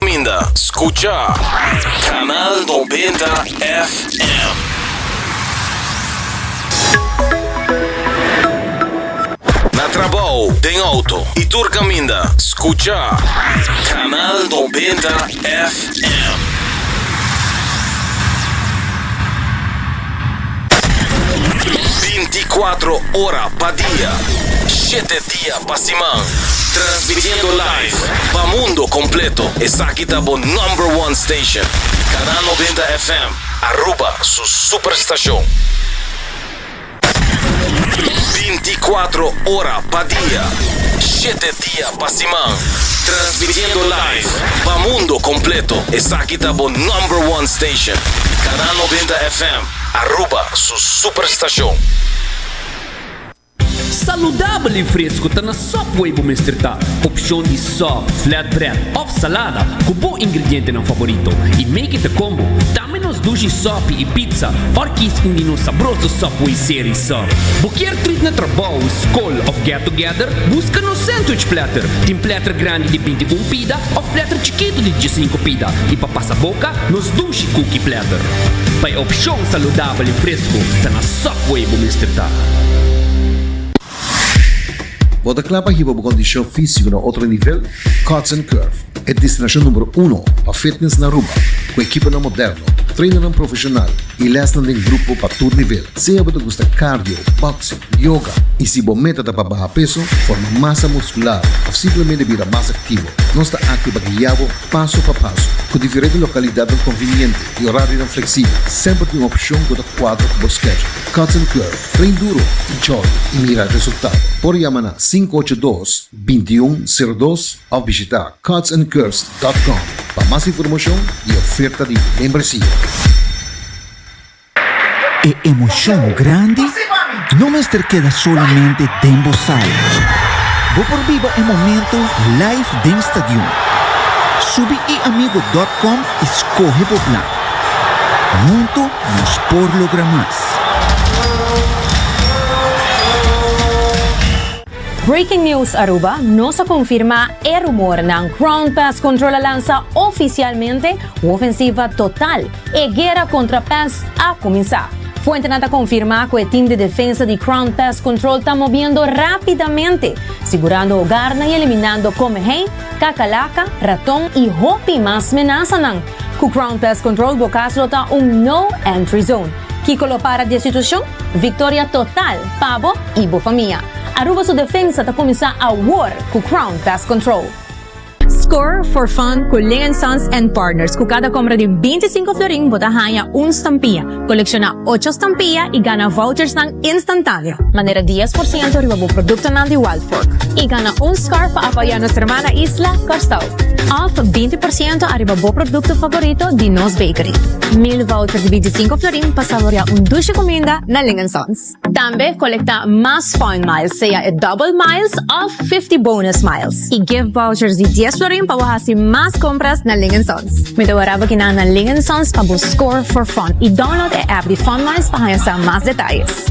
Caminda scucha Canal Noventa FM. Na trabao, den auto y tur caminda scucha Canal Noventa FM. Binti cuatro ora pa dia, shete dia. Pa siman, transmitiendo live pa mundo completo, esaki ta bo number one station, Canal Noventa FM, Aruba su super stacion. Binti cuatro ora pa dia, shete dia pa siman, transmitiendo live pa mundo completo, esaki ta bo number one station, Canal Noventa FM, Aruba su super stacion. Saludabel i fresku ta na sòp wei bo mester ta. Opshon di sòp, flatbread òf salada ku bo ingredientenan faborito i make it a combo. Tambe nos dushi sòpi i pizza òr kies un di nos sabroso sòp wei seri so. Bo kier trit na trabou, skol òf get together? Buska nos sandwich platter. Tin platter grandi di binti un pida òf platter chikitu di diesinko pida. I pa pasa boka, nos dushi cookie platter. Pa e opshon saludabel. Apa li fresco ta na Subway bo mester ta. Bo ta kla pa hiba bo kondishon físiko na otro nivel? Cuts and Curve, e destinashon numero uno pa fitness na Aruba, ku ekiponan moderno, trainarnan profeshonal i lèsnan den grupo pa tur nivel. Sea bo ta gusta cardio, boxing, yoga i si bo meta ta pa baha peso, forma masa muskular òf simplemente bira mas aktivo, nos ta aki pa guia bo paso pa paso ku diferente lokalidadnan konviniente. E orarionan fleksibel, semper tin un opshon ku ta kuadra ku bo skedjul. Cuts and Curve, Train duro i jordi i mira e resultado. Por yama na sinku ocho dos, binti i un, sero dos òf bishitá cuts and curves dòt com pa mas informashon di e oferta di membresia. E emoshon grandi No mester keda solamente den bo sala. Bo por biba e momento live den stadion. Subi eamigo dot com i skohe bo plan. Huntu nos por logra mas. Breaking News Aruba, Nos a konfirmá e rumornan, Crown Pest Control a lansa ofisialmente Wofensiva Total! E guera kontra pès a kuminsá. Fuentenan ta konfirmá ku e tim di defensa di Crown Pest Control ta mobiendo rápidamente, sigurando ogarnan i eliminando komehei, kakalaka, raton i hopi mas menasanan. Ku Crown Pest Control bo kas lo ta un No Entry Zone. Kiko lo para di e situashon? Viktoria total pa bo i bo famia! Aruba su defensa ta kuminsá awor ku Crown Pest Control. Score for fun cu Lingen Sons and Partners. Cu cada compra di bintisinco florin bo ta haña un stampilla, colecciona ocho stampilla y gana vouchersnan instantaneo. Manera dies por ciento riba bo productonan di Wild Fork y gana un scarf pa apoya nos hermana isla, Curaçao. Of binti por ciento ariba bo producto favorito di nos bakery. Mil vouchers di bintisinco florin pa saborea un dulce cuminda na Lingen Sons. Tambe kolekta mas Fun Miles, sea e Double Miles òf Fifty Bonus Miles, i gift vouchers di dies florin pa bo hasi mas kompras na Ling Sons. Mi ta wara bo kina na Ling Sons pa bo score for fun i download e app di Fun Miles pa haña sa mas detayes.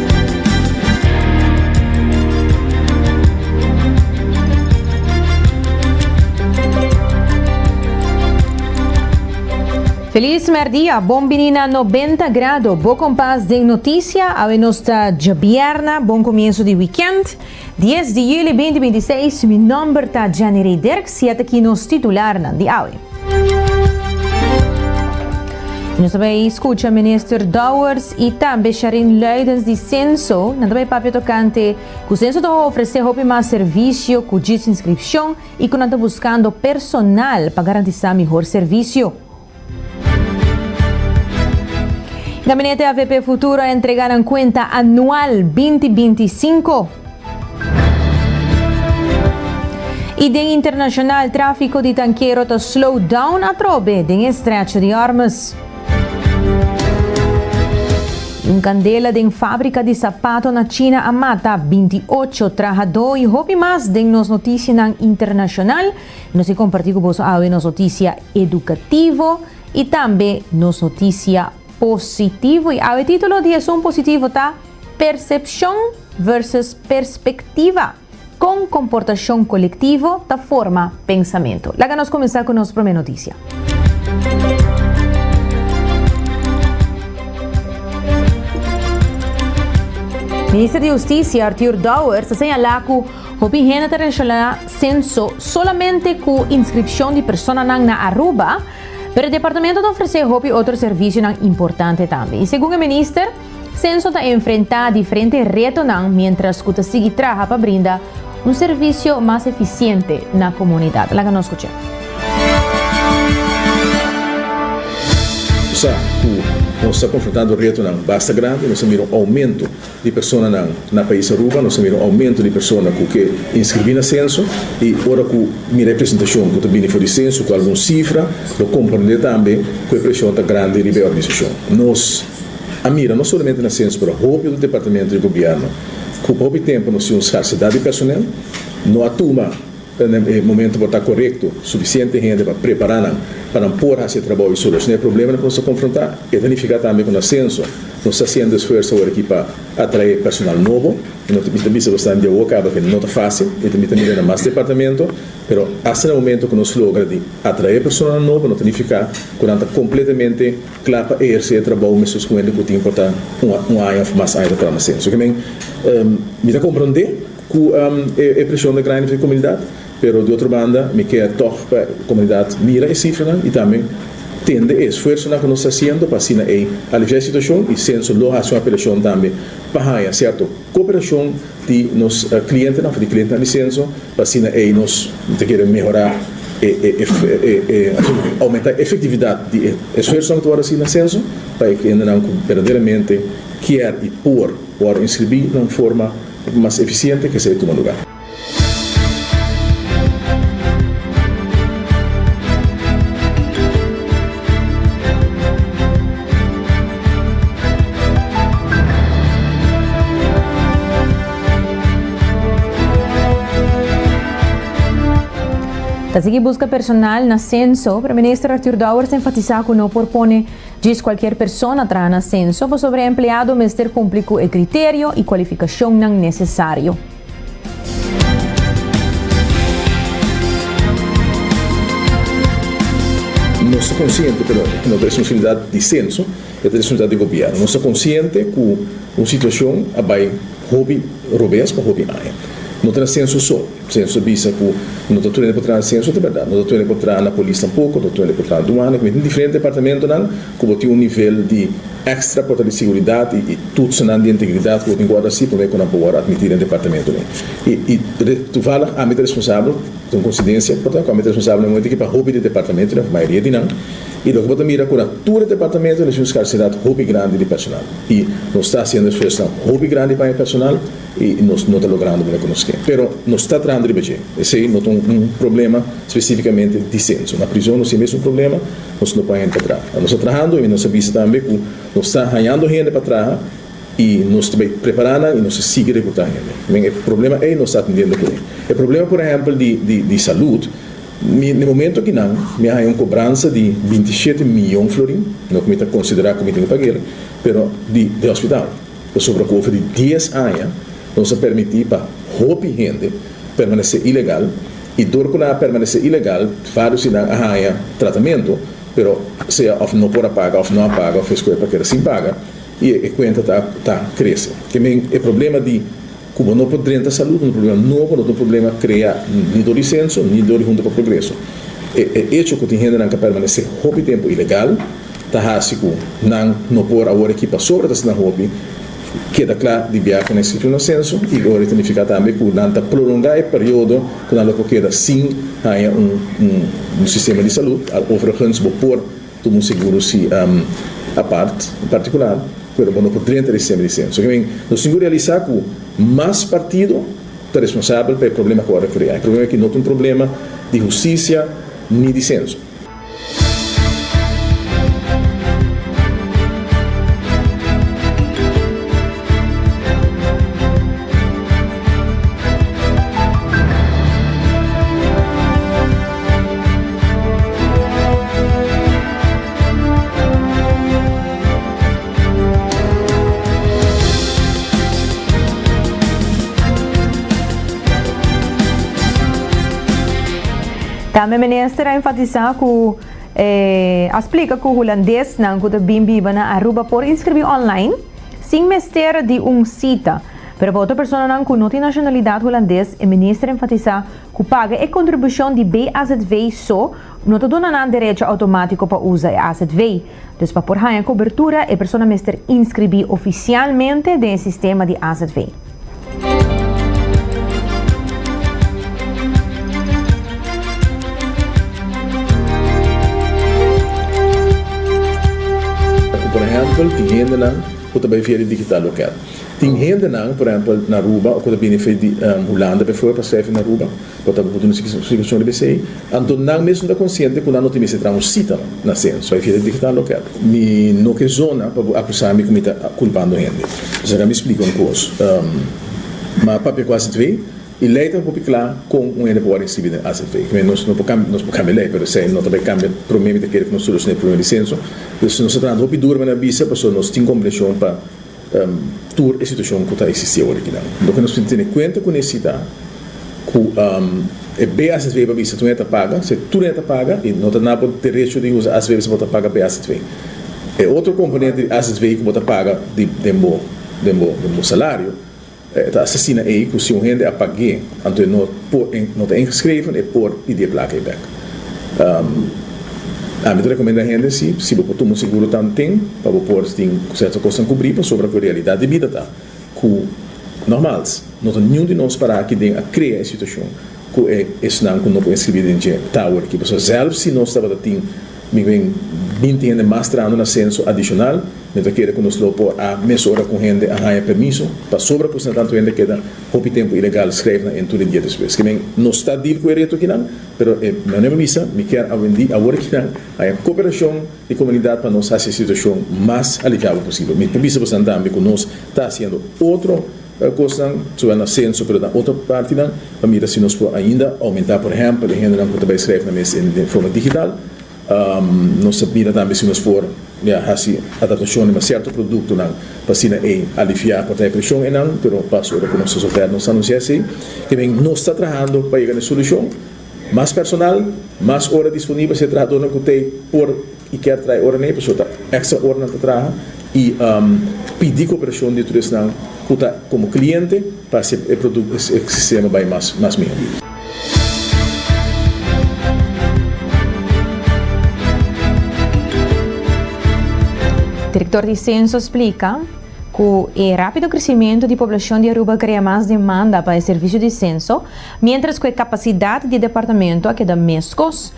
Feliz merdia, bon bini na Nobenta Grado, bo kompas den notisia, awe nos ta djabierna, bon komienso di wikènt. Dies di juli binti binti seis, Mi nòmber ta Jenny Rey Dirk, siete aki nos titularnan di awe. I nos ta bai skucha Minister Dowers i tambe Sharine Luidens di Censo. Nan ta bai papia tokante ku Censo ta ofresé hopi mas servisio ku djis inskripshon i ku nan ta buskando personal pa garantisá mihor servisio. Gabinete AVP Futuro a entrega nan cuenta anual binti binti i sinku. I den internacional trafico di tankero ta slow down atrobe den Estrecho di Ormuz. I un candela den fabrica di sapato na China a mata binti ocho trahado i hopi mas den nos noticianan internacional. I nos a comparti cu boso awe nos noticia. edukativo i tambe nos notisia positivo. I awe titulo di esun positivo ta Persepshon versus perspektiva, Kon komportashon kolektivo ta forma pensamentu. Laga nos kuminsá ku nos promé notisia. Minister di Hustisia, Arthur Dowers, ta señalá ku Hopi hende ta relaciona censo solamente cu inscripcion di personanan na Aruba, pero e departamento ta ofrece hopi otro servicionan importante tambe. Y segun e minister, Censo ta enfrenta diferente retonan mientras cu ta sigui traha pa brinda un servicio mas eficiente na comunidad. Laga nos scucha. Sa cu nos ta confrontando retonan basta grandi, nos ta mira un aumento. di personanan. Na pais Aruba nos a mira un aumento di persona cu ke inscribi na censo y ora cu mira e presentacion cu ta bini for di censo cu algun cifra lo comprende tambe cu e presion ta grandi riba e organisacion. Nos a mira no solamente na censo pero hopi otro departamento di gobierno cu pa hopi tempo nos tin un scarcedad di personel, no a tuma e momento pa ta corecto suficiente hende pa preparanan pa nan por haci e trabao y soluciona e probleman cu nos ta confronta. E ta nifica tambe cu na censo. Nos ta hasiendo esfuerso awor aki pa atrae personal nobo y no ta mi ta bisa bastan di awo caba que no ta facil y ta mi ta mira na mas departamento pero hasta na momento cu nos logra di atrae personanan nobo no ta nifica cu nan ta completamente cla pa eherce e trabao mescos cu hende cu tin por ta un aña of mas aña ta traha na se. Así que mi ta comprende cu e presion ta grandi pa e comunidad. Pero di otro banda mi kier tog pa e comunidad mira e cifranan y tambe tende e esfuersonan cu nos ta haciendo pa asina ey alivia e situacion y Censo lo haci un apelacion tambe pa haya cierto cooperacion di nos clientenan of di clientenan di Censo pa asina ey nos ta kere mehora e aumenta e efectividad di e esfuersonan cu ta word haci na Censo pa e hendenan cu berdaderamente kier y por word inscribi na un forma mas eficiente kesa e tuma lugar. Ta sigui buska personal na senso, pero minister Arthur Dowers ta enfatisa cu no por pone djis cualkier persona traha na senso, pasobra e empleado mester cumpli cu e criterio y cualificacionnan necesario. Nos ta konsiente pero no ta responsabilidat di senso, e ta responsabilidat di gobièrnu. Nos ta konsiente ku un situashon a bai hopi robes pa hopi aña. No ta na senso so. Senso ta bisa ku no ta tuende por traha na senso, ta bèrdat. No ta tuende por traha na polis tampoko, no ta tuende por traha na duana, ku diferente departamentunan. ku bo tin un nivel di extra kota di seguridat i tutsenan di integridat ku bo tin ku wòrdu hasi promé ku nan por wòrdu atmití den departamento mi. I tuvallig ami ta responsabel, ta un koinsidensia porta, ku ami ta responsabel den momente ki pa hopi di departamento mi òf mayoria di nan, i loke bo ta mira ku na tur e departamento nos tin un skarsidat hopi grandi di personal i nos ta hasiendo esfuersonan hopi grandi pa haña personal i nos no ta logrando promé ku nos ke. Pero nos ta trahando riba dje. Esei no ta un problema spesífikamente di senso. Na prizon nos tin mes un problema. nos no pone hende pa traha. Nos ta trahando i nos ta bisa tambe ku nos ta hañando hende pa traha i nos ta bai prepará nan i nos ta sigui rekrutá hende. Men e problema ei nos ta atendiendo ku e. E problema por ehèmpel di di salud, mi den e momento akinan mi a haña un kobransa di binti shete miyon florin, no ku mi ta konsiderá ku mi tin ku pag'el, pero di hospital. Pasobra ku ofer di dies aña nos a permití pa hopi hende permanesé ilegal i dor ku nan a permanesé ilegal vários di nan a haña tratamentu pero sea òf no por a paga òf no a paga òf e eskuel pa keda sin paga i e kuenta ta krese. Te men e problema di. Kuma no por drenta salud un problema nobo, lo ta un problema krea ni dor di senso ni dor di hunta pa progreso. E echo ku tin hendenan ta permanesé hopi tempu ilegal ta hasi ku nan no por, awor aki pa sobra ta asina hopi, keda kla di bia ku nan esistí un asenso i ora i ta nifiká tambe ku nan ta prolongá e periodo ku nan lo por keda sin haña un sistema di salud, overigens bo por. Tudu un seguro si apart, en partikular, pero bo no por drenta di sempri di sempri. So ke men, nos tin ku realisá ku mas partido ta responsabel pa e problema ku a referí ai. Problema aki no ta un problema di hustisia ni di senso. Tambe minister a enfatisa cu e a splica cu Hulandesnan cu ta bin biba na Aruba por inscribi online sin mester di un cita. Pero pa otro personanan cu no tin nacionalidad Hulandes e minister enfatisa Ku paga e kontribushon di BAZV so, no ta duna nan derecho outomátiko pa usa e AZV. Dus pa por haña kobertura, e persona mester inskribí ofisialmente den e sistema di AZV. Ku por ehèmpel tin hendenan ku ta bai feria digital loket. Tin hendenan, por ehempel, na Aruba o ku ta bini fei di Hulanda befo, pa sèfi na Aruba, ku a tabata butu un situashon riba esei. Anto nan mesun ta konsiente ku nan no tin mester traha un sita na senso. Ai fiel tigitá lokèt. Mi no ke zona pa bo akusá mi ku mi ta kulpando hende. Esaki a mi splika un kos. Ma papia ku azv i lei ta hopi kla kon un hende por wòrdu insibi den azv. Mi nos no por kambia nos por kambia lei, pero esei no ta bai kambia. Promé mi ta kere ku nos solushon'é e problema di senso. Nos ta trahando hopi duru, mi a bisa, pasobra nos tin kompreshon pa. tur e situacion cu ta existi awor aki nan. Lo cu nos tin tene cuenta cu ne'e cita cu e BAZV pa bisa tun e ta paga, si tur e ta paga y no ta na bo derecho di usa AZV pasobra bo ta paga BAZV. E otro componente di AZV cu bo ta paga den bo salario E ta asesina ei ku si un hende a pag'é, anto e no por e no ta ingeschreven, e por pidi e plaka ei bèk. Ami ta rekomenda hende si si bo por tuma un seguro tanten pa bo por tin ku sèrto kosnan kubrí pasobra ku e realidat di bida ta ku nòmals no ta niun di nos pará aki den a krea e situashon. ku e esnan ku no por inskribí den dje tower ki pasobra sèlf si nos tabata tin mikben binti hende mas trahando na senso adishonal mi ta kere ku nos lo por a mesora ku hende a haña permiso pasobra ku si na tantu hende keda hopi tempu ilegal skrèf nan en tur e dia despues kimen nos ta deal ku e reto kinan pero e manera mi bisa mi kier awendí awor kinan haña koperashon di komunidat pa nos hasi e situashon mas aliviabo posibel mi ta bisa bosan tambe ku nos ta hasiendo otro Tal kosnan su a na senso pero na otro partinan pa mira si nos por ainda aumenta por ehempel e hendenan ku ta bai skrèf nan mes den forma digital nos ta mira tambe si nos por mira hasi adaptashon riba sierto produktonan pa asina ei aliviá por traha preshon einan pero pas ora ku nos ta soltá nos ta anunsiá esei ke men nos ta trahando pa yega na e solushon mas personal mas ora disponibel si e trahadornan ku ta e por. i kier trai ora nei pasobra ta extra ora nan ta traha i pidi cooperashon di tur esnan cu ta como cliente pa haci e produc e sistema bay mas mas miho. Director di Censo splica cu e rapido crecimento di poblacion di Aruba crea mas demanda pa e servicio di censo, mientras cu e capacidad di departamento a keda mescos.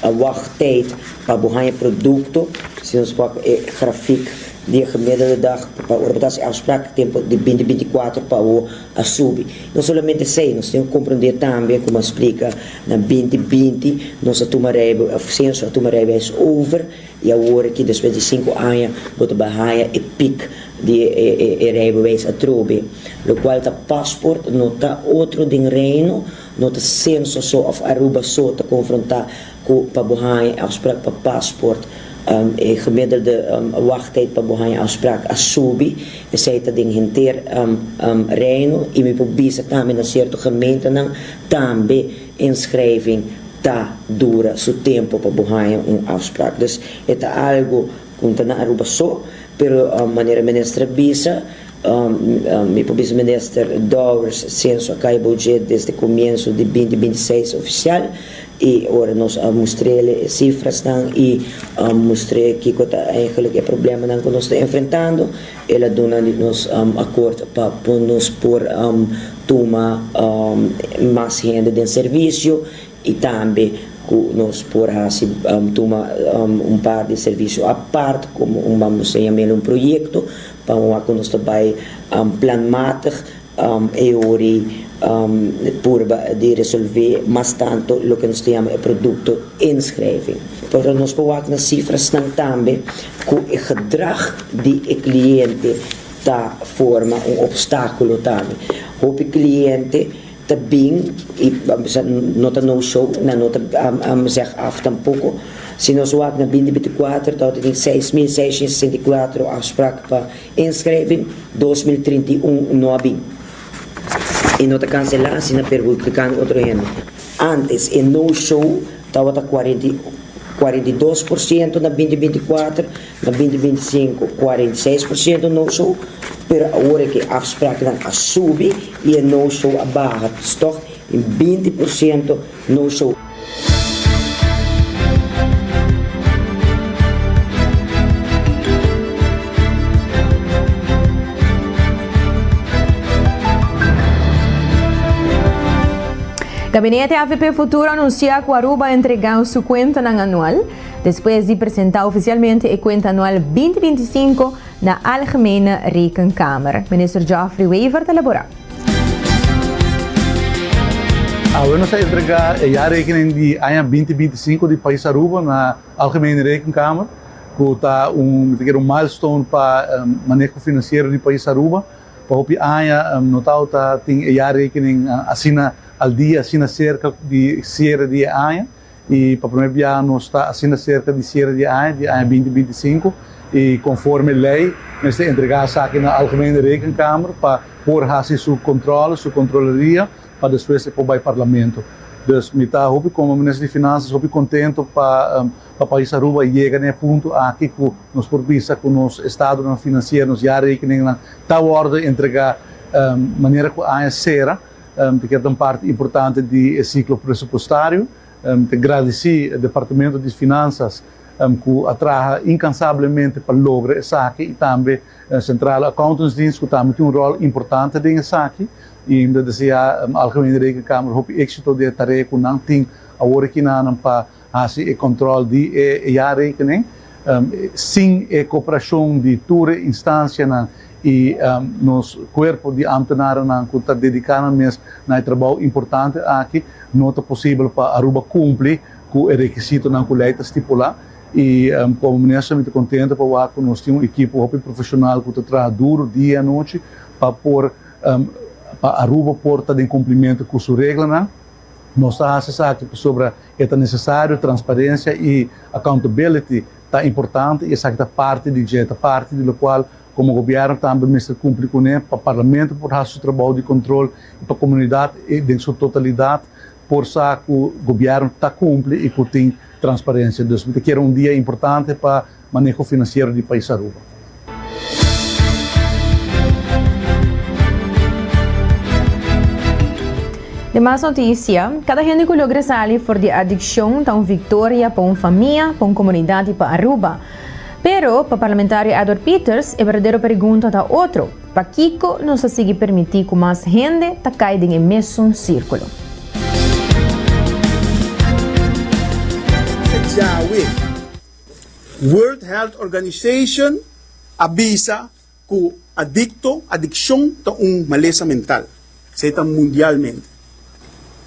Ta wag tyd pa bo haña produkto si nos wak e grafik di e gemiddelde di dag pa ora bo ta hasi afsprak e tempo di binti binti kuater pa awo a subi. No solamente esei, nos tin ku komprendé tambe komo a splika na binti binti nos a tuma rijbe senso a tuma rijbeis over i awor aki despues di sinku aña bo ta bai haña e pik di e rijbeweis atrobe lokual ta pasport no ta otro den Reino No ta senso so of Aruba so ta confronta cu pa bo hanja e afspraak pa paspoort e gemiddelde wachttijd pa bo hanja afspraak a subi, esey ta den henter Reino y mi por bisa tambe na cierto gemeentenan tambe inschrijving ta dura su tempo pa bo hanja un afspraak. Dus e ta algo Con ta na Aruba so, pero manera minister a bisa, mi por bisa minister Dowers censo a cay boje desde comienzo di binti binti seis oficial y ora nos a mustrele e cifrasnan y mustre kico ta eigenlic e problemanan cu nos ta enfrentando el a duna di nos acord pa nos por tuma mas hende den servicio. y tambe cu nos por haci tuma un par di servicio apart como un bambo sta yama el un proyecto pa un wak cu nos ta bay planmatig e hori purba di resolve mas tanto loke nos ta yama e producto inschrijving pero nos por wak na cifrasnan tambe cu e gedrag di e cliente ta forma un obstaculo tambe hopi cliente. Ta bin y no ta no show nan no ta am zeg af tampoco si nos wak na binti binti cuatro ta awor ta tin seis mil seiscientos y sesenta y cuatro afspraak pa inschrijving dos mil trinta y un no a bin y no ta cancela si na perhulpicando otro hende antes e no show ta awor ta cuarenta y dos por ciento na binti binti cuatro. Na binti binti sinku kuarenta i seis por siento no-so, pero awor e ke afspraaknan a subi i e no-so a baha ta stok in binti por siento no-so. Gabinete avp Futuro anuncia cu Aruba a entrega su cuentanan anual. Despues di presenta ofisialmente e kuenta anual binti binti sinku na Algemene Rekenkamer, Minister Geoffrey Wever ta labora. Awe nos a entrega e jaarrekening di aña binti binti sinku di pais Aruba na Algemene Rekenkamer, ku ta un mi ta keda un milestone pa maneho finansiero di pais Aruba. Pa hopi aña no tao ta tin e jaarrekening asina al dia, asina serka di siere di e aña. I pa primer biaha nos ta asina serka di siere di e aña, di e aña binti binti sinku, i konforme lei mester entregá esaki na Algemene Rekenkamer pa por hasi su kontrole, su kontroleria, pa despues e por bai Parlamento. Dus mi ta hopi komo Minister di Finanzas hopi kontento pa pa pais Aruba yega na e punto aki ku nos por bisa ku nos estadonan finansiero, nos jarekeningnan ta wòrdu entregá manera ku aña sera. te keda un parti importante di e siklo presupustario. Te gradisí e Departamento di Finansas ku a traha inkansablemente pa logra esaki i tambe Centrale Accountantsdienst ku tambe tin un ròl importante den esaki. I mi ta deseá Algemene Rekenkamer hopi éksito den e tarea ku nan tin awor aki na nan pa hasi e control di e jaarrekening sin e cooperacion di tur e instancianan y nos cuerpo di ambtenarennan cu ta dedica nan mes na e trabao importante aki, no ta posibel pa Aruba cumpli cu e requisitonan cu ley ta stipula y como Minister mi ta contento pa wak cu nos tin un equipo hopi profesional cu ta traha duro dia y anochi pa por pa Aruba por ta den cumplimento cu su reglanan. Nos ta hasi esaki pasobra e ta nesesario, transparencia y accountability ta importante y esaki ta parti di dje, ta parti di locual como gobierno tambe mester cumpli cune pa Parlamento por hasi su trabou di control y pa comunidad den su totalidad por sa cu gobierno ta cumpli y cu tin transparencia. Dus mi ta kere un dia importante pa. Maneho Finansiero di Pais Aruba. De mas notisia, Kada hende ku logra sali for di adikshon ta un viktoria pa un famia, pa un komunidat i pa Aruba. Pero, pa Parlamentario Edward Peters, e berdadero pergunta ta otro, Pakiko nos ta sigui permití ku mas hende ta kai den e mesun sirkulo? Djawe. World Health Organization a bisa ku adikto, adikshon, ta un malesa mental, esei ta mundialmente.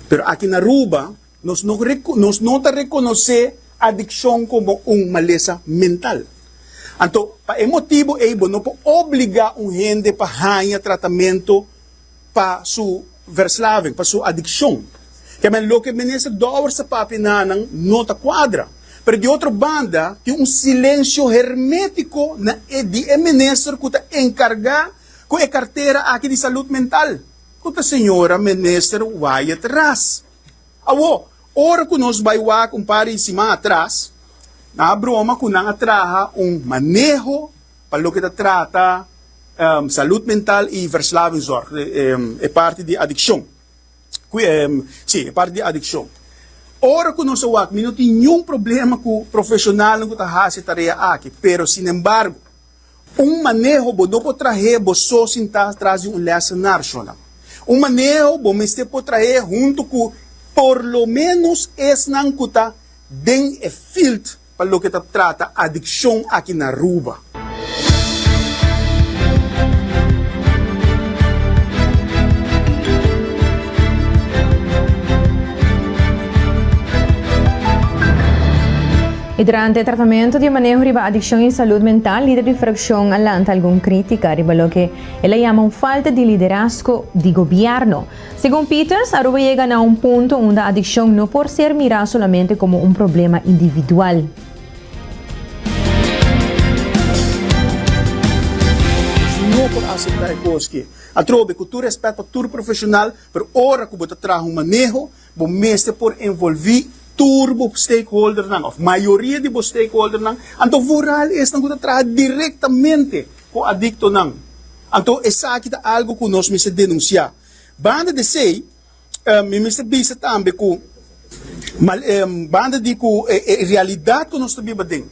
Pero aki na Aruba nos no nos no ta rekonosé adikshon komo un malesa mental. Anto pa e motibu ei bo no por obligá un hende pa haña tratamentu. pa su verslaving, pa su adikshon. Kèmen loke Minister Dower sa papia na nan no ta kuadra. Pero di otro banda tin un silensio hermétiko na e di e minister ku ta enkargá ku e kartera aki di Salud Mental, ku ta señora Minister Wyatt Ras. Awo, ora ku nos bai wak un par di siman atras, nan a broma ku nan a traha un maneho, Pa loke ta trata salud mental y verslavingzorg, e parti di adiccion, si, e parti di adiccion. Ora cu nos a wak, mi no tin niun problema cu profesionalnan cu ta haci e tarea aki, pero sinembargo, un maneho bo no por trahe bo so sin ta tras di un lessen narshonnan. Un maneho bo mester por trahe hunto cu por lo menos esnan cu ta den e field, pa loke ta trata adikshon aki na Aruba. I durante e tratamentu di maneho riba adikshon i salud mental, lider di frakshon a lanta algun krítika riba loke el a yama un falta di liderazgo di gobièrnu. Segun Peters, Aruba yega na un punto unda adikshon no por ser mirá solamente komo un problema individual. No por aseptá e kos ke. Atrobe, ku tur rèspèt pa tur profeshonal, pero ora ku bo ta traha un maneho, bo mester por envolví tur bo stakeholdernan òf mayoria di bo stakeholdernan, anto vooral esnan ku ta traha direktamente ku adiktonan. Anto esaki ta algu ku nos mester denunsiá. Banda di esei, mi mester bisa tambe ku banda di ku e realidat ku nos ta biba den,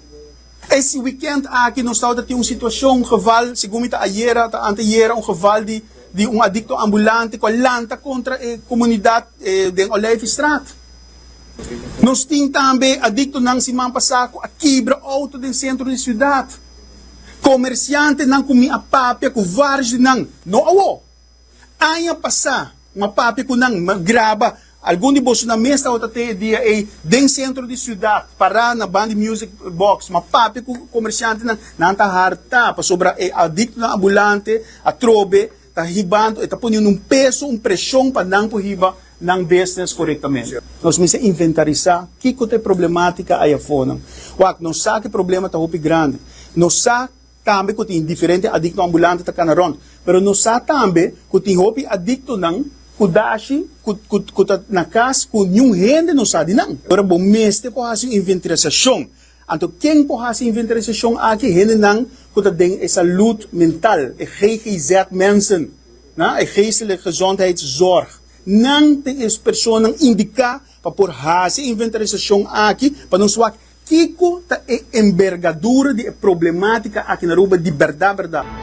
e si wikènt aki nos tabata tin un situashon, un geval, segun mi ta ayera ota anteayera, un geval di un adikto ambulante ku a lanta kontra e komunidat den Olijfstraat. Nos tin tambe adiktonan siman pasá ku a kibra outo den sentro di siudat. Komersiantenan ku mi a papia ku vários di nan, no awo, aña pasá mi a papia ku nan, mi a graba algun di bosonan mes tawatat'e e dia ei den sentro di siudat, pará na ban di music box, mi a papia ku komersiantenan, nan ta hartá pasobra e adiktonan ambulante atrobe ta hibando, e ta poniendo un peso, un presion pa nan por hiba nan business corectamente. Nos mester inventarisá kico ta e problematica ay afonan. Wak, nos sa cu e problema ta hopi grandi. Nos sa tambe cu tin diferente adicto ambulante ta cana rond. Pero nos sa tambe cu tin hopi adictonan cu dashi cu cu cu ta na cas cu niun hende no sa di nan. Ora bo mester por haci un inventarisacion. Anto ken por hasi inventarisashon aki? Hendenan ku ta den e salud mental, e GGZ mensen, e geestelijke gezondheidszorg. Nan tin e personanan indiká pa por hasi inventarisashon aki pa nos wak kiko ta e enbergadura di e problemátika aki na Aruba di bèrdat bèrdat.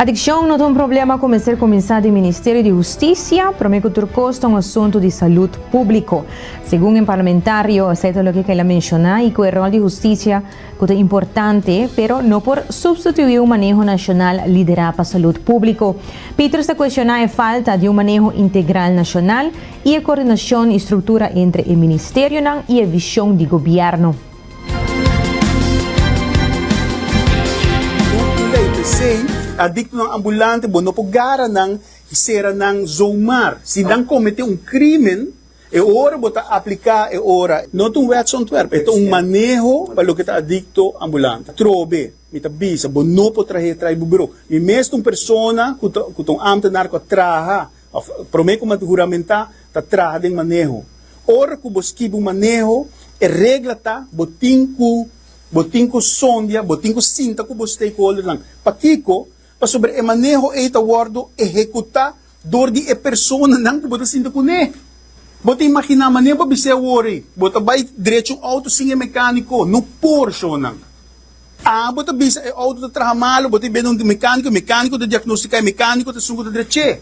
Adikshon no ta un problema ku mester kuminsá den Ministerio di Hustisia, promé ku tur kos ta un asuntu di salud públiko. Segun e parlamentario, esei ta loke ku el a menshoná i ku e ròl di hustisia ku ta importante, pero no por supstituí un maneho nashonal liderá pa salud públiko. Peters ta kueshoná e falta di un maneho integral nashonal I e coordinacion y structura entre e ministerionan y e vision di gobierno. Bo tin ley p'esey, si adictonan ambulante bo no por gara nan y cera nan zomaar. Si nan comete un crimen, e ora bo ta aplica e ora. No ta un wetsontwerp, e ta un maneho pa loke ta adicto ambulante. Trobe, mi ta bisa, bo no por trahe tray bo bro. Mi mes ta un persona cu ta un ambtenaar cu a traha Promé ku manda huramentá ta traha den maneho. Ora ku bo skibi un maneho, e regla ta bo tin ku bo tin ku sondia, bo tin ku sinta ku bo stakeholdernan. Pakiko? Pasobra e maneho ei ta wòrdu ehekutá dor di e personanan ku bo ta sinta kuné. Bo ta imaginá maneho pa biseo wor ei? Bo ta bai drechi un outo sin e mekániko? No por, shownan. Aa bo ta bisa e outo ta traha malu, bo ta bini untu mekaniko, mekaniko ta diagnostiká i mekaniko ta sungu ta drech'é.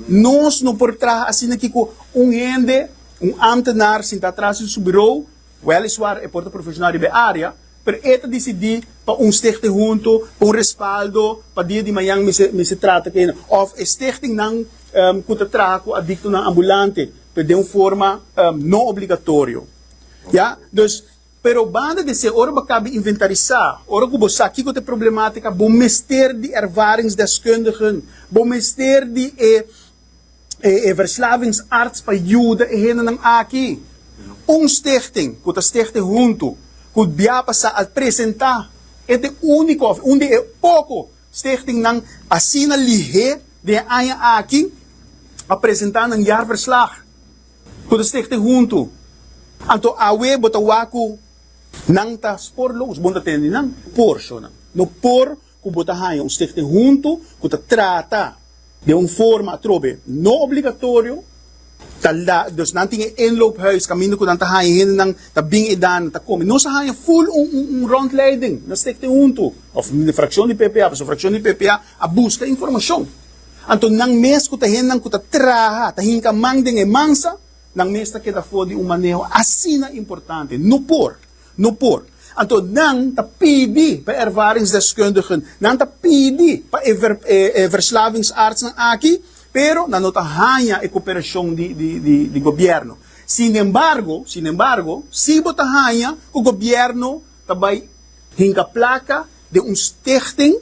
Nos no por traha asina kiko un hende, un ámtenaar sintá atras di su birou, wèliswaar e por ta profeshonal riba e área, pero e ta disidí pa un stichting huntu, pa un respaldo, pa dia di mañan mi ser mi ser trata ku hende òf e stichtingnan ku ta traha ku adiktonan ambulante pero den un forma no obligatorio. Ya. Dus. Pero banda di esei, ora bo a kaba inventarisá, ora ku bo sa kiko ta e problemátika, bo mester di ervaringsdeskundigen, bo mester di e e verslavingsarts pa yuda e hendenan aki. Un stichting ku ta stichte huntu ku bia pasá al presentá e ta e úniko òf un di e poko stichtingnan asina lihé den e aña aki a presentá nan jaarverslag. Bo ta stichte huntu. Anto awe bo ta wak ku nan ta spor lo us, bo no ta tende nan porshonan. No por ku bo ta haña un stichte huntu ku ta trata den un forma atrobe no obligatorio, ta la, dus nan tin e inloophuis kaminda ku nan ta haña hendenan ta bin edan, nan ta kome. Nos a haña ful un un rondleiding na stichte huntu òf frakshon di ppa, pasobra frakshon di ppa a buska informashon. Anto nan mes ku ta hennan ku ta traha, ta hinka man den e mansa, nan mes ta keda for di un maneho asina importante. No por, no por. Anto nan ta pidi pa e ervaringsdeskundigen, nan ta pidi pa e e verslavingsartsnan aki, pero nan no ta haña e koperashon di di di di gobièrnu. Sinembargo, sinembargo, si bo ta haña ku gobièrnu ta bai hinka plaka den un stichting,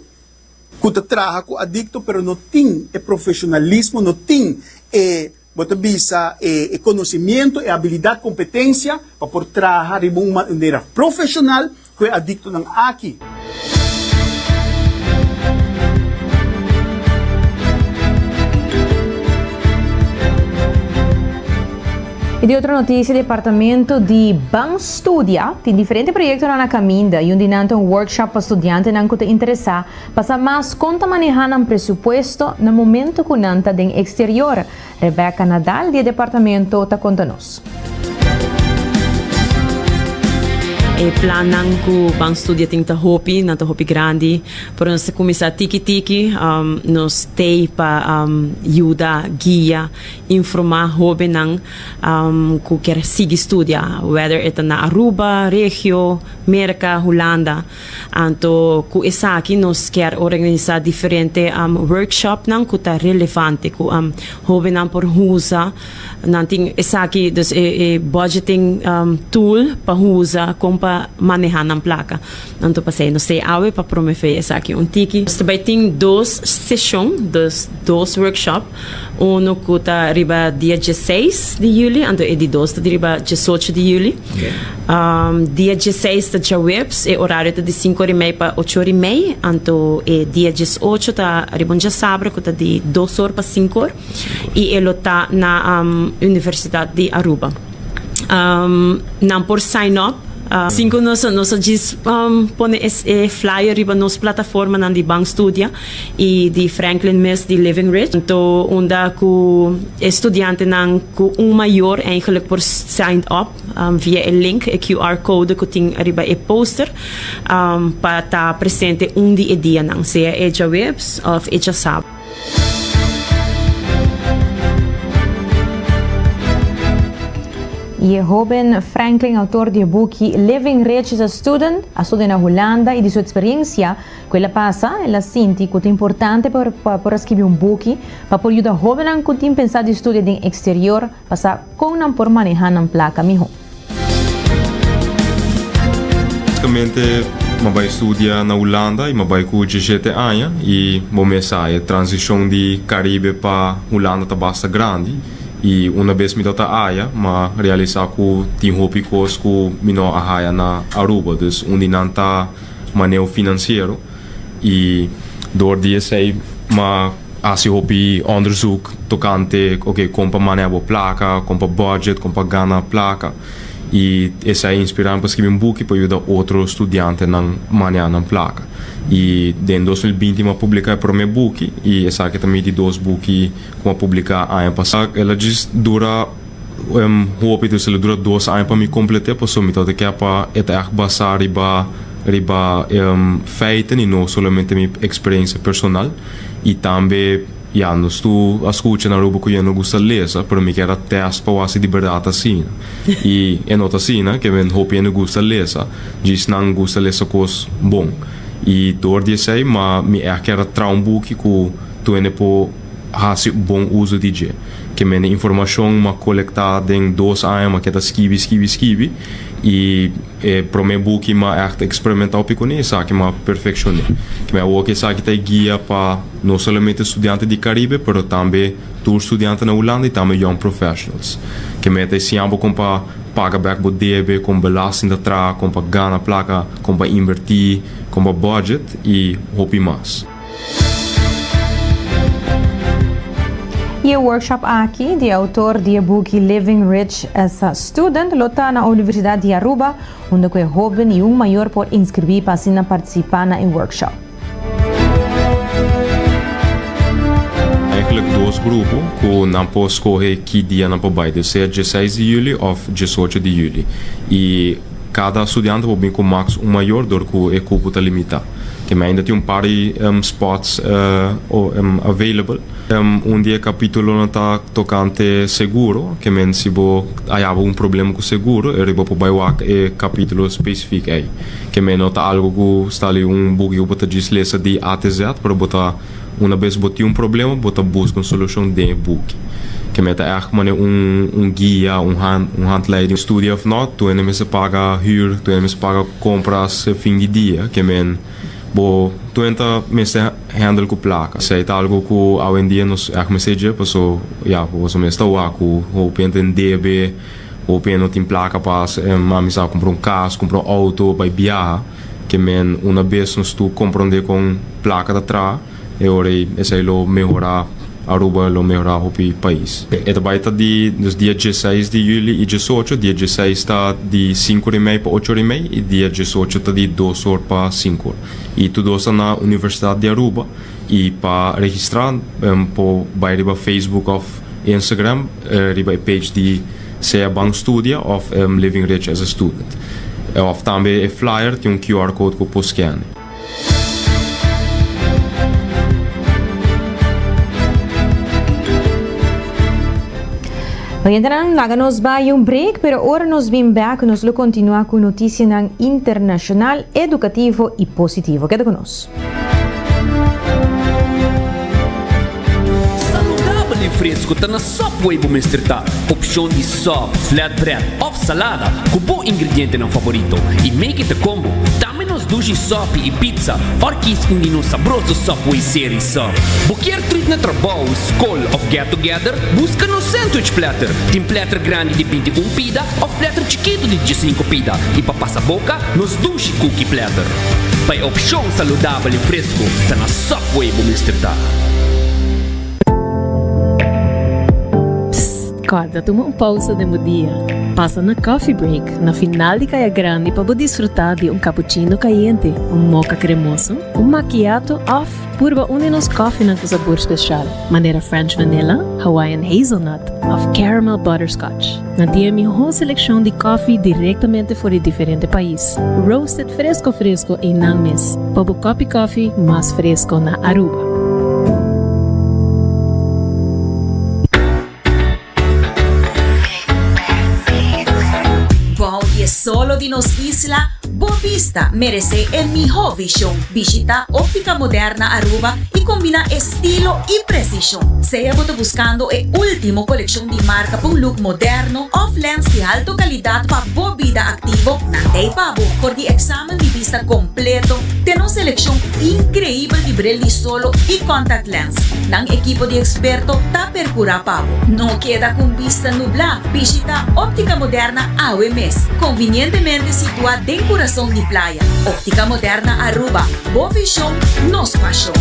ku ta traha ku adikto pero no tin e profeshonalismo, no tin e, bo ta bisa, e konosimiento, e abilidat, kompetensia pa por traha riba un manera profeshonal ku e adiktonan aki. I di otro notisia, Departamento di Ban Studia tin diferente proyektonan na kaminda, y un di nan ta un workshop pa studiantenan ku ta interesá pa sa mas kon ta manehá nan presupuesto na momento ku nan ta den eksterior, Rebecca Nadal di e departamento ta konta nos. E plannan ku Ban Studia tin ta hopi, nan ta hopi grandi, pero nos ta kuminsá tiki tiki, nos stay pa yuda, guia Informa hobennan cu kier sigui studia, weder e ta na Aruba, Regio, Merca, Hulanda. Anto cu esaki nos kier organisa diferente workshopnan cu ta relevante, cu hobennan por usa. Nan tin esaki, dus e budgeting tool pa usa con pa maneha nan placa. Anto pasey nos ta e awe pa promove esaki un tiki. Nos ta bay tin dos seshon, dus workshop. Uno ku ta riba dia dieseis di yuli, anto e di dos ta di riba diesocho di yuli. Um, dia dieseis ta djaweps, e orario ta di sinku ora i mei pa ocho ora i mei, anto e dia diesocho ta riba un djasabra ku ta di dos or pa sinku or i e lo ta na um, Universitat di Aruba. Um, nan por sign up. Uh, sinku nos a, nos a djis um, pone e, e flyer riba nos plataformanan di Ban Studia. y di Franklin Miss di Living Ridge, punto unda cu e studiantenan cu un mayor eigenlijk por sign up via e link, e QR code cu tin ariba e poster, pa ta presente un di e dianan, sea e djaweps of e djasabra. Y e hoben Franklin, autor di e buki Living Ridge is a Student, a studia na Hulanda y di su experiencia, Ku el a pasa, el a sinti ku ta importante pa por a skibi un buki pa por yuda hóbennan ku tin pensá di studia den eksterior pa sa kon nan por manehá nan plaka mihó. Basikamente mi a bai studia na Hulanda i mi a bai ku diesshete aña i bo mes sa e transishon di Karibe pa Hulanda ta basta grandi i una bes mi ta ta aya mi a realisá ku tin hopi kos ku mi no a haya na Aruba. Dus un di nan ta. Maneo finansiero i dor di esei mi a hasi hopi onderzoek tokante oke kon pa maneha bo plaka, kon pa bùdjet, kon pa gana plaka. I esei a inspirá mi pa skibi un buki pa yuda otro studiantenan maneha nan plaka. I den dos mil binti mi a publiká e promé buki i esaki ta mi di dos buki ku mi a publiká aña pasá. El a djis dura Hopi ta sali dura dos aña pa mi complet'é, pasobra mi tabata kia pa e ta echt basa riba riba feiten y no solamente mi experiencia personal. Y tambe ya nos tur a scucha na Aruba cu yeh no gusta lesa, pero mi kier a test pa wak si di berdad ta asina. Y e no ta asina, ke men hopi hende gusta lesa, djis nan gusta lesa cos bon. Y door di esey, ma mi echt kier a traha un buki cu tur hende por. hasi bon uso di dje. Ke mende informashon m'a kolekta den dos aña m'a keda skibi, skibi, skibi i e promé buki m'a ègt eksperimentá pi kuné esaki m'a perfekshoné. Kibè awor ke esaki ta e guia pa no solamente studiante di Karibe pero tambe tur studiante na Hulanda i tambe young professionals. Ke mende ta e siña bo kon pa paga bèk bo debe, kon belasting ta traha, kon pa gana plaka, kon pa inbertí, kon pa budget i hopi mas. Y e workshop aki di e autor di e buki Living Rich as a Student lo ta na Universidad di Aruba, unda cu e hoben y un mayor por inscribi pa asina participa na e workshop. Eigenlijk dos grupo cu nan por scoge ki dia nan por bay, debe ser diesseis di juli of diesocho di juli. Y cada studiante por bin cu max un mayor dor cu e cupo ta limita. Te mi ainda tin un par di spots available. Un di e kapitulonan ta tokante seguro, ke men si bo a yaba un problema ku seguro e riba bo por bai wak e kapitulo spesifik ei. Ke men no ta algu ku sta ali un buki ku bo ta djis lesa di a te zet, pero bo ta una bes bo tin un problema bo ta buska un solushon den e buki. Ke men ta èg manera un guia, un hand, un handleiding. Studia of not, tu ainda mester paga hür, tu ainda mester paga. Compras e fin di dia ke men bo tuwent ta mester handle ku plaka. Sei ta algo ku awendia nos ech mester dje paso ya bo boso mes ta wak ku hopi hende en debe, hopi hende no tin plaka pas em ami sa compra un cas, compra un auto, bai biaha ke men una bes nos tu comprende kon plaka ta traha. E ora ei esei lo mehorá Aruba, lo mehorá hopi pais. E ta bai ta di nos dia diesseis di yüli i diesocho. Dia diesseis ta di sinku or i mei pa ocho or i mei i dia diesocho ta di dos or pa sinku or. I tur dos ta na Universidad di Aruba. I pa registrá por bai riba Facebook òf Instagram riba e page di Sea Ban Studia òf Living Rich as a Student. Òf tambe e flyer tin un QR code ku por skene. Oyentenan, laga nos bai un break, pero ora nos bin bèk nos lo kontinuá ku notisianan internashonal, edukativo i positivo. Keda ku nos. Saludabel i fresku ta na Subway bo mester ta. Opshon di sub, flatbread òf salada ku bo ingredientenan favorito i make it a combo. Tambe nos dushi sòpi i pizza òr kies un di nos sabroso Subway serie sub. Bo kier trit na trabou, skol òf get together? Buska nos sandwich platter. Tin platter grandi di binti un pida òf platter chikitu di diesinko pida. I pa pasa boka, nos dushi cookie platter. Pa e opshon saludabel i fresku, ta na Subway bo mester ta. Psst! Kòrda tuma un pousa den bo dia. Pasa na Coffee Break, na final di Kaya Grandi pa bo disfrutá di un kapuchino kayente, un moka kremoso, un makiato òf Purba un di nos kòfenan ku sabor spesial, manera French Vanilla, Hawaiian Hazelnut òf Caramel Butterscotch. Nan tin e mihó selekshon di kòfi direktamente for di diferente pais, roasted fresko fresko ei nan mes pa bo kòpi kòfi mas fresko na Aruba. Bou di e solo di nos isla, Bo bista meresé e mihó vishon. Bishitá Óptica Moderna Aruba i kombiná estilo i presishon. Sea bo ta buskando e último kolekshon di marka pa un luk moderno òf lèns di halto kalidat pa bo bida aktivo, nan ta ei pa bo. For di eksamen di bista kompleto, ten un selekshon inkreibel di bril di solo i kòntaktléns. Nan ekipo di eksperto ta. percura pa bo. No keda cu un bista nubla, bishita Optica Moderna awe mes. Convinientemente situa den curason di playa. Optica Moderna Aruba, bo vision, nos pasion.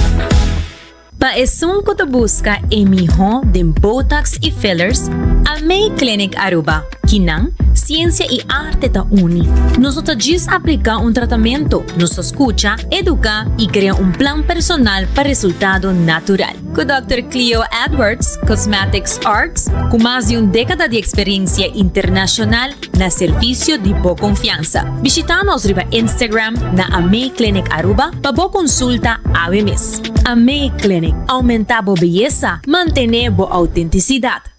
Pa esun cu ta busca e miho den Botox y Fillers, Almay Clinic Aruba, kinan, ciencia y arte ta uni. Nos no ta djis aplica un tratamento, nos ta scucha, educa y crea un plan personal pa resultado natural. Ku Dòkter Cleo Edwards, Cosmetics Arts, ku mas di un dékada di eksperensia internashonal na servisio di bo konfiansa. Bishitá nos riba Instagram na Amei Clinic Aruba pa bo konsulta awe mes. Amei Clinic, Oumentá bo beyesa, mantené bo outentisidat.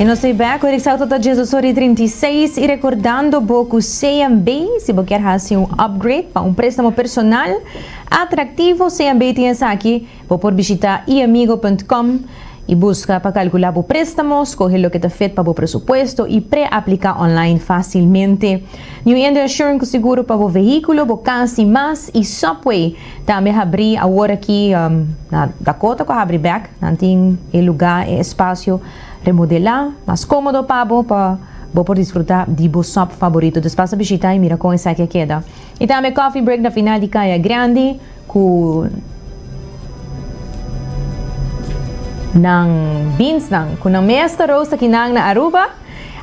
Y nos stay back horik sa Total Jazz Osori 36 y recordando bo cu CMB si bo kier haci un upgrade pa un prestamo personal atractivo CMB tin esaki Bo por bishita eamigo.com i buska pa kalkulá bo préstamo, skohe loke ta fit pa bo presupuesto i pre-apliká online fásilmente. New Indo Insurance ku seguro pa bo vehíkulo, bo kas i mas, i Subway tambe a habrí awor aki na Dakota ku a habrí bèk. Nan tin e lugá, e espasio remodelá mas kómodo pa bo pa bo por disfrutá di bo sub faborito. Dòs pasa bishita i mira kon esaki a keda. I tambe Coffee Break na final di Kaya Grandi. Cu nan beansnan, cu nan mes ta roast aki nan na Aruba.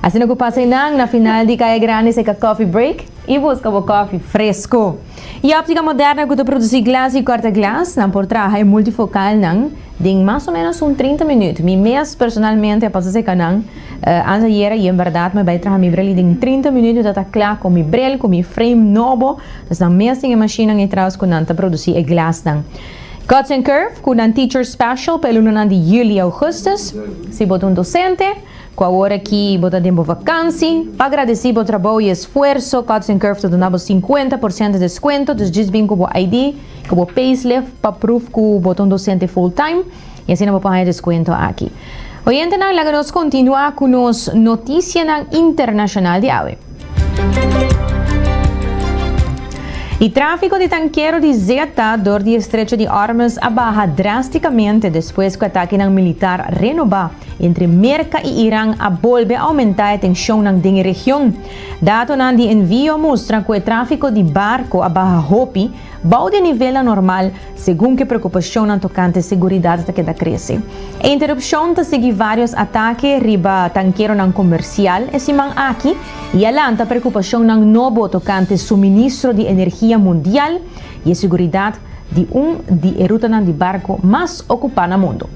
Asina cu pasa eynan na final di Calle Grande seca coffee break y busca bo coffee fresco. E optica moderna cu ta produci glas y corta glas, nan por traha e multifocalnan den mas o menos un trinta minuut. Mi mes personalmente a pasa seca nan anteayera y en berdad mi a bay traha mi brel y den trinta minuut mi ta ta cla con mi brel, con mi frame nobo. Esnan mes tin e mashinnan etraus ku nan ta produsí e glasnan. Cuts and Curve, ku nan Teacher Special pa e lunanan di Yuli i Ougustus. Si bo ta un dosente, ku awora ki bo ta den bo vakansi, pa agradesí bo trabou i esfuerso, Cuts and Curve ta duna bo sinkuenta por sento deskuento. Dus djis bin ku bo ID ku bo payslif pa pruf ku bo ta un dosente full-time. Y asina bo por haña descuento aki. Oyentenan, laga nos continua cu nos noticianan internacional di awe. E trafico di tankero di zeta dor di estrecho di Ormuz a baha drasticamente despues cu atakenan militar renoba entre Merca y Iran a bolbe aumenta e tensionnan den e region. Datonan di envio mustra cu e trafico di barco a baha hopi, Bou di e nivelnan normal, segun ku e preokupashonnan tokante seguridat ta keda krese. E interupshon ta sigui vários atake riba tankeronan komersial e siman aki i a lanta preokupashonnan nobo tokante suministro di energia mundial i e seguridat di un di e rutanan di barku mas okupá na mundu.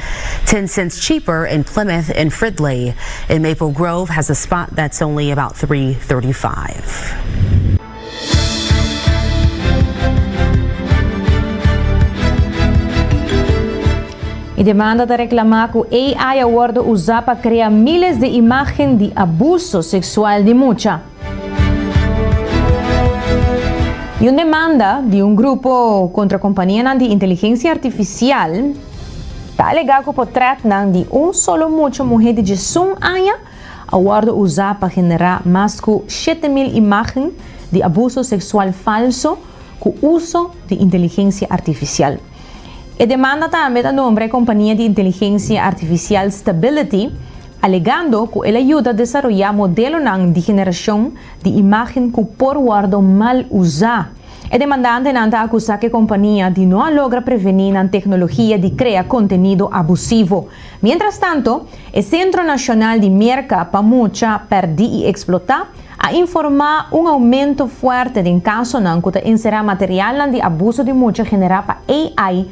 Ten cents cheaper in Plymouth and Fridley. In Maple Grove has a spot that's only about three thirty five. E demanda ta reklamá ku AI a wòrdu usá pa krea míles di imágen di abuso seksual di mucha. I un demanda di un grupo kontra kompanianan di inteligensia artifisial ta alegá ku potrètnan di un solo mucha muhé di djesun aña a wòrdu uzá pa generá mas ku shete mil imágen di abuso seksual falso ku uso di inteligensia artifisial. E demanda tambe ta nombra e kompania di inteligensia artifisial Stability, alegando cu el a yuda desaroya modelonan di generacion di imagen cu por wordo mal uza. E demandantenan ta acusa cu e compania di no a logra preveni nan tecnologia di crea contenido abusivo. Mientrastanto, e Centro Nacional di Merca pa Mucha Perdi y Explota a informa un aumento fuerte den casonan cu ta encera materialnan di abuso di mucha genera pa AI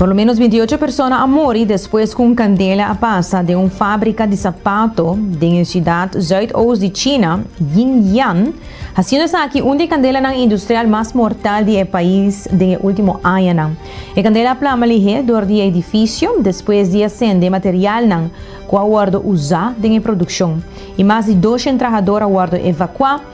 Por lo menos binti y ocho persona a muri despues cu un candela a pasa den un fabrica di sapato den e ciudad zuid-oost di China, Yinjian, haciendo esaki un di e candelanan industrial mas mortal di e pais den e ultimo añanan. E candela a plama lihe dor di e edificio despues di a cende materialnan cu a wordo uza den e produccion y mas di doshen trahador a wordo evacua,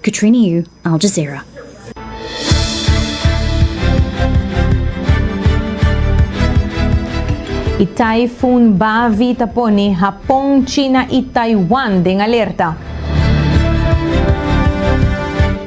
Katrina Yu, Al Jazeera. Y Typhoon Bavi ta pone Hapon, China y Taiwan den alerta.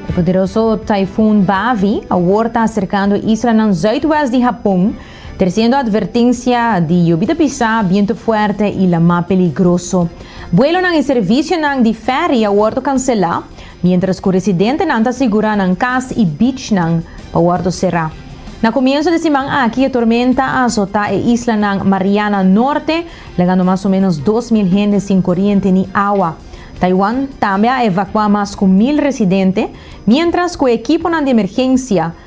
E poderoso Typhoon Bavi awor ta acercando e islanan zuidwest di Hapon, Tresiendo advertencia di yubi ta bisa, biento fuerte y lama peligroso. Buelonan y servicionan di ferry a wordo cancela, mientras cu residentenan ta sigura nan cas y beachnan pa wordo cera. Na comienzo di siman aki e tormenta a azota e islanan Mariana Norte, legando mas o menos dos mil hende sin coriente ni awa. Taiwan tambe a evacua mas cu mil residente, mientras cu e equiponan di emergencia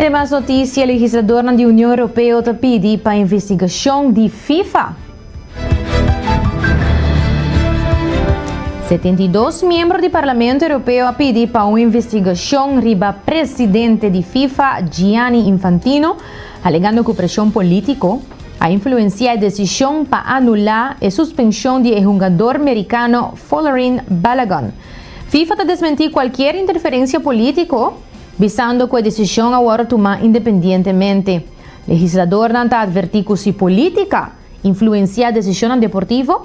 E mas notisia, Legisladornan di Union Europeo ta pidi pa investigashon di Fifa. Setenta i dos miembro di Parlamento Europeo a pidi pa un investigashon riba presidente di Fifa, Gianni Infantino, alegando cu presion politico, a influenciá e desishon pa anulá e suspenshon di e hungador merikano Folarin Balogun. Fifa ta desmentí kualkier interferensia polítiko, bisando ku e desishon a wòrdu tumá independientemente. Legisladornan ta atvertí ku si polítika influenciá desishonnan deportivo,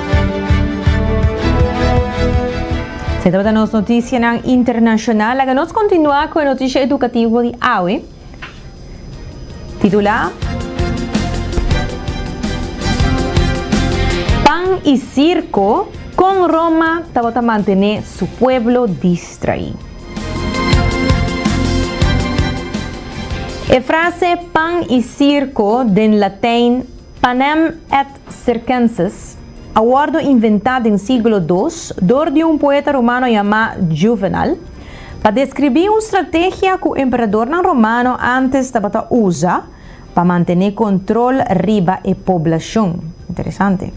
Se trata nos noticianan internacional. Laga nos continua cu e noticia educativo di awe. Titula Pan y circo, con Roma tabata mantene su pueblo distrai. E frase pan y circo, den Latin panem et Circenses, a wòrdu inventá den sígulo dos dor di un poeta romano yamá Juvenal pa deskribí un strategia ku emperadornan romano ántes tabata usa pa mantené kontrol riba e poblashon. Interesante.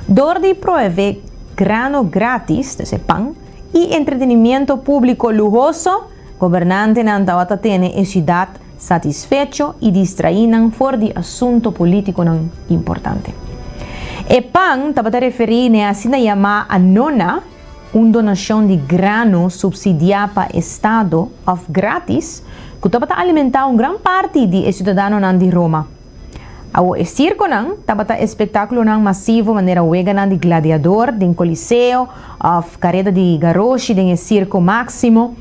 Dor di provee grano grátis, ta ser pan, i entretenimiento públiko luhoso, gobernantenan tabata tene e siudat satisfecho i distraí nan for di asunto polítikonan importante. E pan tabata referí na e asina yamá anona, un donashon di grano supsidiá pa estado òf grátis, ku tabata alimentá un gran parti di e siudadanonan di Roma. Awor e sirkonan tabata espektákulonan masivo manera weganan di gladiador den Koliseo òf kareda di garoshi den e Sirko Máksimo,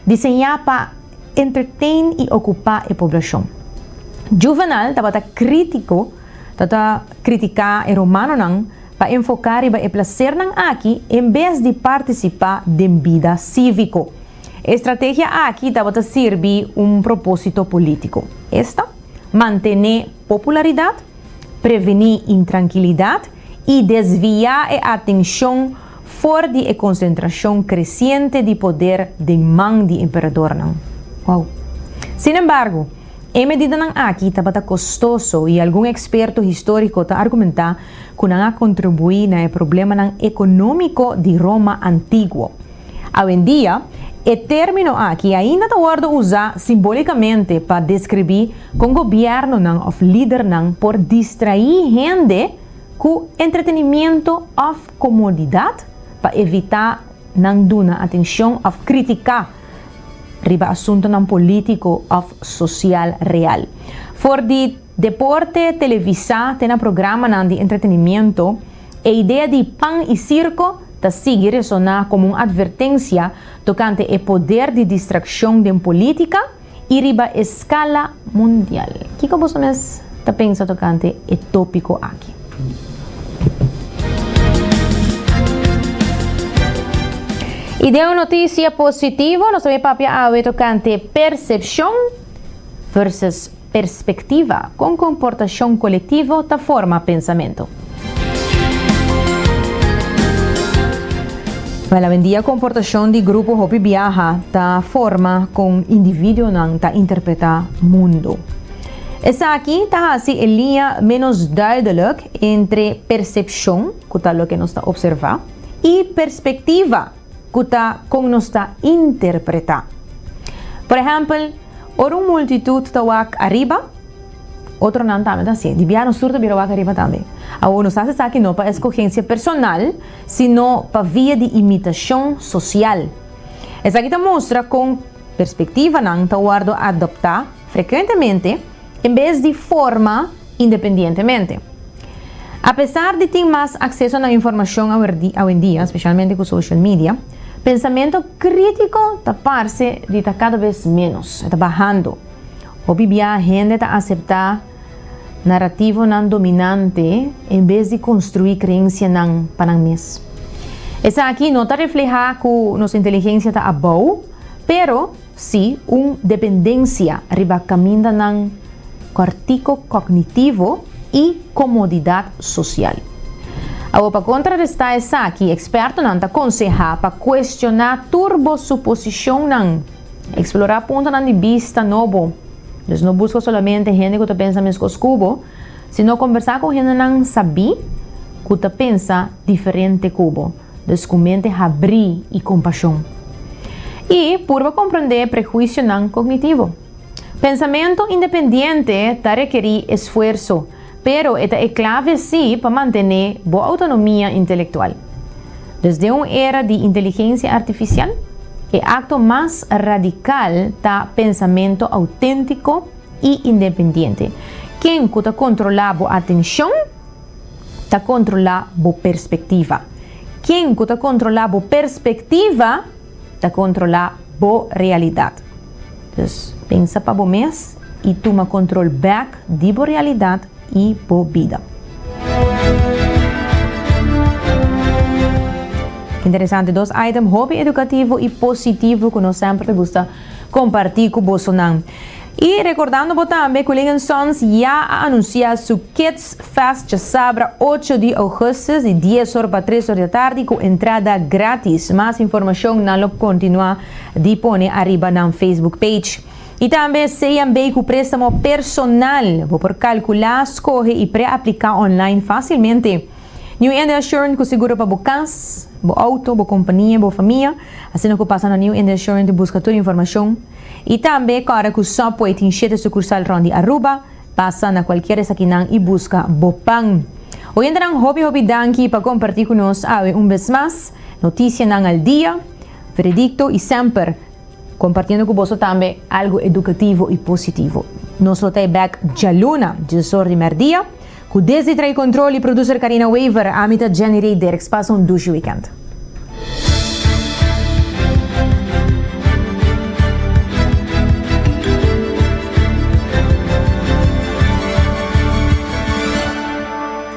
diseñá pa entertain y ocupa e poblacion. Juvenal tabata critico, tata critica e romanonan pa enfoca riba e placernan aki en bes di participa den bida civico. E estrategia aki tabata sirbi un proposito politico, esta, mantene popularidad, preveni intrankilidad y desvia e atencion For di e konsentrashon kresiente di poder den man di emperadornan. Wou. Sin embargo, e medidanan aki tabata kostoso i algun eksperto históriko ta argumentá ku nan a kontribuí na e problemanan ekonómiko di Roma antiguo. Awendia, e término aki ainda ta wòrdu usá simbólikamente pa deskribí kon gobièrnunan òf lidernan por distraí hende ku entretenimiento òf Komodidat, pa evitá nan duna atenshon òf kritiká riba asuntunan polítiko òf sosial real. For di deporte televisá te na programanan di entretenimentu, e idea di pan i sirko ta sigui resoná komo un atvertensia tokante e poder di distrakshon den polítika, i riba e skala mundial. Kiko boso mes ta pensa tokante e topiko aki? I den un notisia positivo, nos ta bin papia awe tokante persepshon versus perspektiva, kon komportashon kolektivo ta forma pensamentu. Well, awendia komportashon di grupo hopi biaha ta forma kon individuonan ta interpretá mundu. Esaki ta hasi e liña ménos duidelik entre persepshon, ku ta loke nos ta opservá, i perspektiva, ku ta kon nos ta interpretá. Por ehèmpel, ora un multitut ta wak ariba, Otronan tambe ta así. Di biaha nos tur ta bira wak ariba tambe. Awor nos ta haci esaki no pa escogencia personal, sino pa via di imitacion social. Esaki ta mustra con perspectivanan ta wordo adopta frecuentemente en bes di forma independientemente. Apesar di tin mas acceso na informacion awendia, specialmente cu social media, pensamento critico ta parce di ta cada bes menos, e ta bahando. Hopi bia hende ta aseptá narativonan dominante en bes di konstruí kreensianan pa nan mes. Esaki no ta reflehá ku nos inteligensia ta abou, pero sí un dependensia riba kamindanan kòrtiko kognitivo i komodidat sosial. Awo pa kontrarestá esaki, ekspertonan ta konsehá pa kuestioná tur bo suposishonnan. Eksplorá puntonan di bista nobo. Dus no buska solamente hende ku ta pensa meskos ku bo, sino kombersá ku hendenan sabí ku ta pensa diferente ku bo, dus ku mente habrí i kompashon. I purba komprendé prehuisionan kognitivo. Pensamentu independiente ta rekerí esfuerso. Pero e ta e clave sí pa mantené bo autonomia intelectual. Dus den un era di inteligencia artificial, e acto mas radical ta pensamento auténtico y independiente. Ken cu ta controla bo atencion, ta controla bo perspectiva. Ken cu ta controla bo perspectiva, ta controla bo realidad. Dus, pensa pa bo mes i tuma kontrol bèk di bo realidat i bo bida. Interesante dos item hopi edukativo i positivo ku nos semper ta gusta kompartí ku bosonan. I rekordando bo tambe ku Ling Sons ya a anunsiá su Kids Fest djasabra ocho di ougùstus di dies or pa tres or di atardi ku entrada grátis. Mas informashon nan lo kontinuá. di pone ariba nan Facebook page. I tambe Seyan bay cu prestamo personal. Bo por calcula, scoge y pre-aplica online facilmente. New India Assurant cu seguro pa bo cas, bo auto, bo compania y bo famia. Asina cu pasa na New India Assurant y busca tur informacion. Y tambe cora cu Subway tin shete sucursal rond di Aruba, pasa na cualkier esakinan y busca bo pan. Oyentenan hopi hopi danki pa comparti cu nos awe un bes mas. Noticianan al dia. Veredicto y semper compartiendo cu boso tambe algo educativo y positivo. Nos lo ta e bek djaluna, djilsor di merdia, cu desdi trae control y producer Carina Wever, ami ta Jenny Rey Dirks. Pasa un dushi weekend.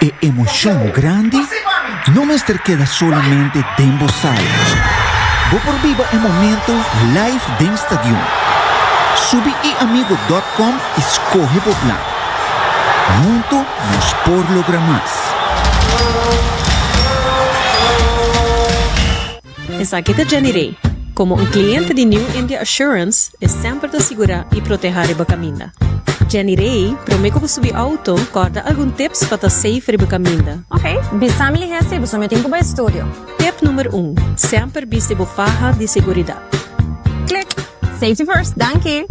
E emocion grandi no mester keda solamente den bo sala. Bo por biba e momento live den stadion. Subi eamigo.com y scoge bo plan. Hunto nos por logra mas. Esaki ta Jenny Rey. Komo un kliente di New India Assurance, e semper ta sigurá i proteha riba kaminda. Jenny Rey, promé ku bo subi outo, kòrda algun tips pa ta safe riba kaminda. Ok, bisa mi lihe si bo so mitin ku bo estudio. Tip number un, Semper bisti bo faha di seguridat. Klik! Safety first, danki!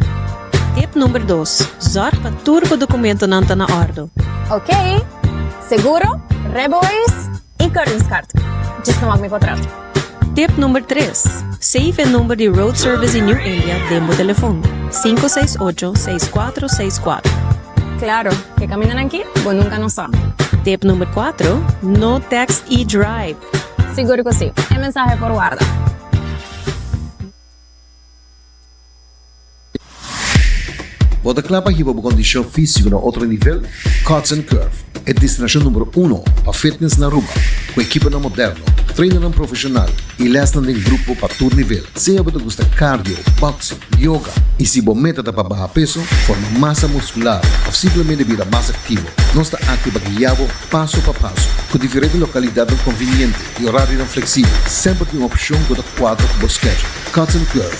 Tip number dos, Zòrg pa tur bo dokumentonan ta na òrdo. Ok! Seguro? Rebois? E kortingskaart. Djes no wak mi kontrato. Tip number tres, Save e number di Road Service di New India den bo telefon, sinku seis ocho, seis kuatro, seis kuatro. Klaro, e kamindanan aki bo nunka no sa. Tip number kuatro, No text i drive. Sigur ku si, e mensahe por warda. Bo ta kla pa hiba bo kondishon físiko na otro nivel? Cuts and Curve, e destinashon numero uno pa fitness na Aruba, ku ekiponan moderno, trainernan profeshonal i lèsnan den grupo pa tur nivel. Sea bo ta gusta cardio, boxing, yoga i si bo meta ta pa baha peso, forma masa muskular òf simplemente bira mas aktivo, nos ta akí pa guia bo paso pa paso. Ku diferente lokalidatnan konviniente i orarionan fleksibel, semper tin un opshon ku ta kuadra ku bo schedule. Cuts and Curve.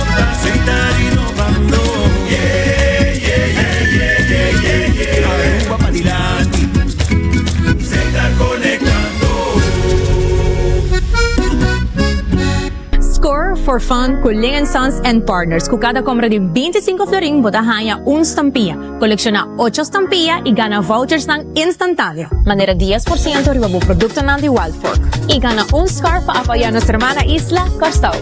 Score for fun cu Ling and Sons and Partners. Cu cada compra di binti sinku florin bo ta haña un stampia. Kolekshona ocho stampia i gana vouchersnan instantaneo, manera dies por siento riba bo produktonan di Wild Fork, i gana un scarf pa apoyá nos hermana isla, Kòrsou,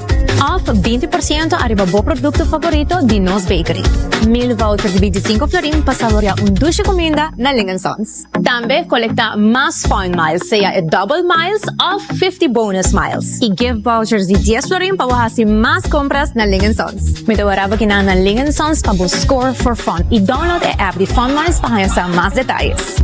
òf binti por siento ariba bo produkto favorito di nos bakery. Mil voucher di bintisinko florin pa saboriá un dushi kuminda na Ling and Sons. Tambe kolekta mas Fun Miles, sea e Double Miles òf Fifty Bonus Miles, i gift vouchers di dies florin pa bo hasi mas kompras na Ling en Sons. Mi ta wara pa kina na Ling en Sons pa bo score for fun i download e app di Fun Miles pa haña sa mas detayes.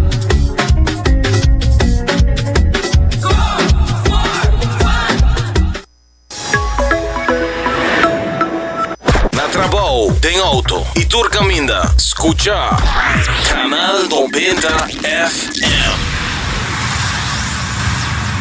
Na trabao, den auto y tur caminda, scucha Canal Noventa FM.